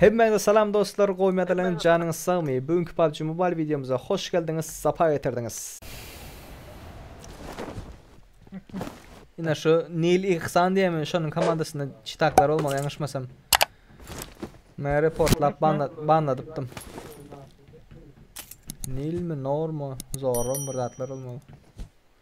Hemmäňize salam dostlar gowy medalyn janyňyz sagmy bu günki pubg mobile wideomyza hoş geldiňiz sapa getirdiňiz. Ine şu Nil Ihsan diýenmi şonuň komandasynda çitaklar bolmaly ýalňyşmasam. Men reportlap banladypdym. Nilmi Normu Zorrum bir zatlar bolmaly.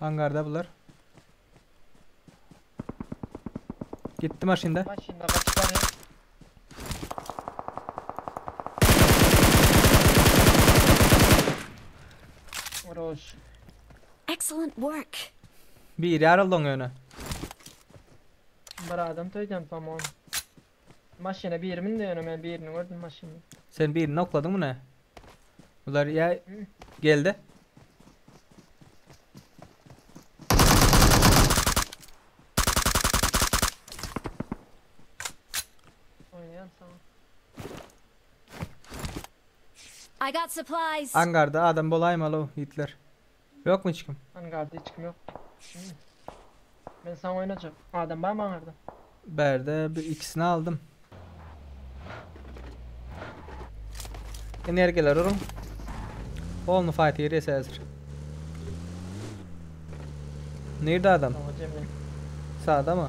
Angarda bular. Gitti maşynda. Maşynda kaçıp barýar. Roş. Excellent work. Bir yaraldan öne. Bir adam toýdan tamam. Maşyna biri mündi ýöne men birini gördüm maşynda. Sen birini nokladyňmy ne? Bular ýa Hı. geldi. Oýnaýan saňa. I got supplies. Angarda adam bolaýmaly o itler. Ýokmy hiç kim? Angarda hiç kim ýok. Düşündim. Men saňa oýnajak. Adam barmy aňarda? Bärde bir ikisini aldym. Energiýalar uruň. Olny fight girýäs häzir. Nirde adam? Saňa jemle. Sadamy?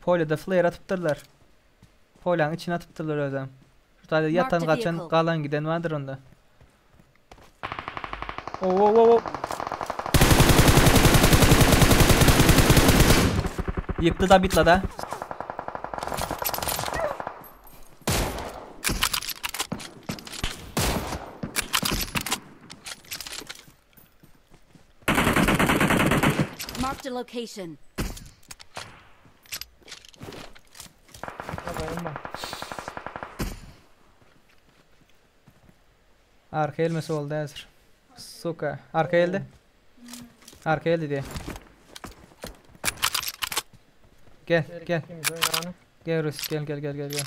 Polede flare atypdyrlar. Poleň içine atypdyrlar özem. Şu taýda ýatan gaçan galan giden bardyr onda. Wow wow wow wow. Ýykdy da bitla da. Marked a location. Arka elme solda hazır. Suka. Arka elde. Arka elde diye. Gel gel. Gel Rus gel gel gel gel gel.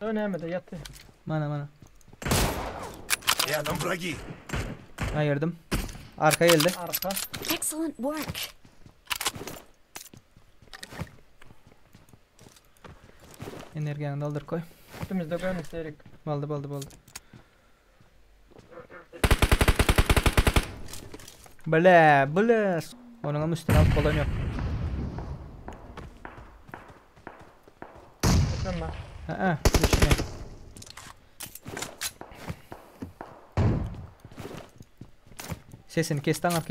Ö nämede ýatdy. Mana mana. Rýadom wragi. Aýyrdym. Arka geldi. Arka. Excellent work. Energiýany dolduryp goý. Üstümizde görnüşde erik. Boldy boldy boldy. Bile, bile. Onun hem üstüne alıp bolan yok. Tamam. Ha, düşme. Sesini kes tanap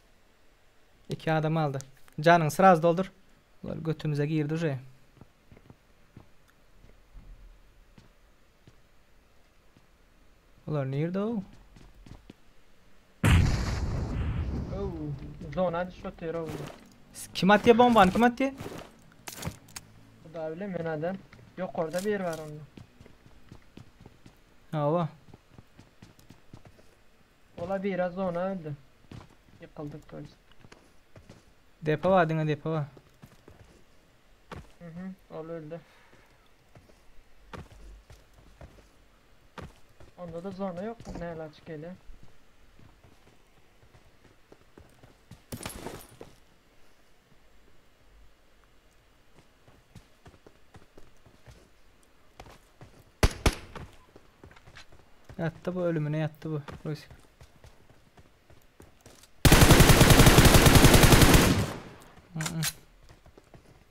İki adam aldı. Canını sıraz doldur. Bunlar götümüze girdi uje. Bunlar nerede o? Zona düşüp otyr o. Kim atýa bombany kim atýa? Hudaý bile men adam. Ýokarda bir bar onda. Hawa. Ola bira zona öldi. Ýykyldy toýst. Depo bar diňe depo bar. Mhm ol öldi. Onda da zona ýok näle açyk gelýär. Yattı bu ölümüne yattı bu. Rusik. Mm-mm.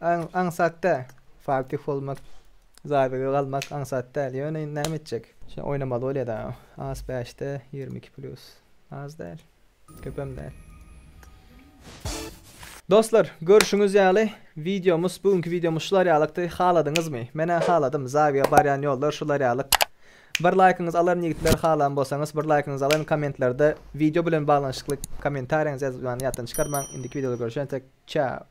Aň, aňsat däl. Fatih bolmak, Zaýbege galmak aňsat däl. Ýöne indi näme etjek? Şeýle oýnamaly bolýa-da. As bäşde ýigrimi iki plýus. Az däl. Köpem däl. Dostlar, görşüňiz ýaly, wideomyz, bu günki wideomyz şular ýalykdy. Haladyňyzmy? Men-ä haladym. Zaýbege barýan ýollar şular ýalyk. Bir laýkyňyzy alaryn ýigitler, halan bolsaňyz, bir laýkyňyzy alaryn. Kommentlerde wideo bilen baglanyşykly kommentariýaňyzy ýazyp ýatdan çykarmaň. Indiki wideoda görüşentek, çäo!